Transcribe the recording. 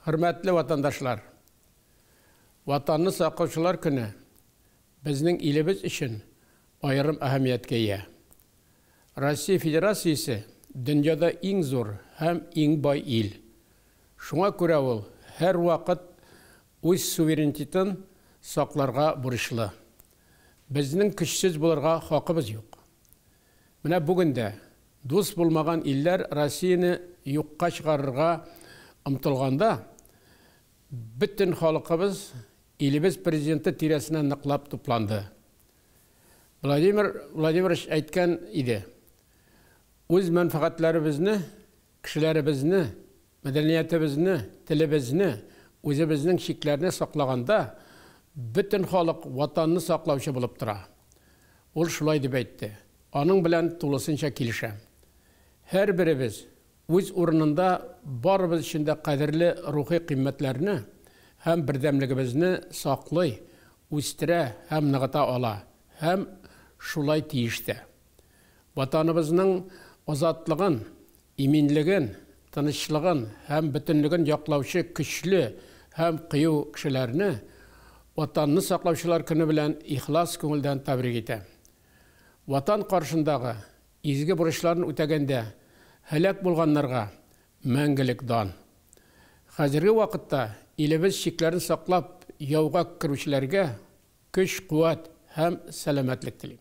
Хөрмәтле ватандашлар! Ватанны саклаучылар көне безнең илебез өчен аерым әһәмияткә ия. Россия Федерациясе дөньяда иң зур һәм иң бай ил. Шуңа күрә ул һәрвакыт үз суверенитетын сакларга бурычлы. Безнең көчсез булырга хакыбыз юк. Менә бүген дә дус булмаган илләр Россияне юкка чыгарырга омтылганда, бөтен халыкыбыз илебез Президенты тирәсенә ныклап тупланды. Владимир Владимирович әйткән иде, Үз мәнфәгатьләребезне, кешеләребезне Мәдәниятебезне, телебезне, үзебезнең чикләрне саклаганда, бөтен халык Ватанны саклаучы булып тора. Ул шулай дип әйтте. Аның белән тулысынча килешәм. Һәрберебез үз урынында барыбыз өчен дә кадерле рухи кыйммәтләрне һәм бердәмлегебезне саклый, үстерә һәм ныгыта ала һәм шулай тиеш тә. Ватаныбызның азатлыгын, иминлеген, тынычлыгын һәм бөтенлеген яклаучы көчле һәм кыю кешеләрне Ватанны саклаучылар көне белән ихлас күңелдән тәбрик итәм. Ватан каршындагы изге бурычларын үтәгәндә һәлак булганнарга мәңгелек дан! Хәзерге вакытта илебез чикләрен саклап яуга керүчеләргә көч-куәт һәм сәламәтлек телим.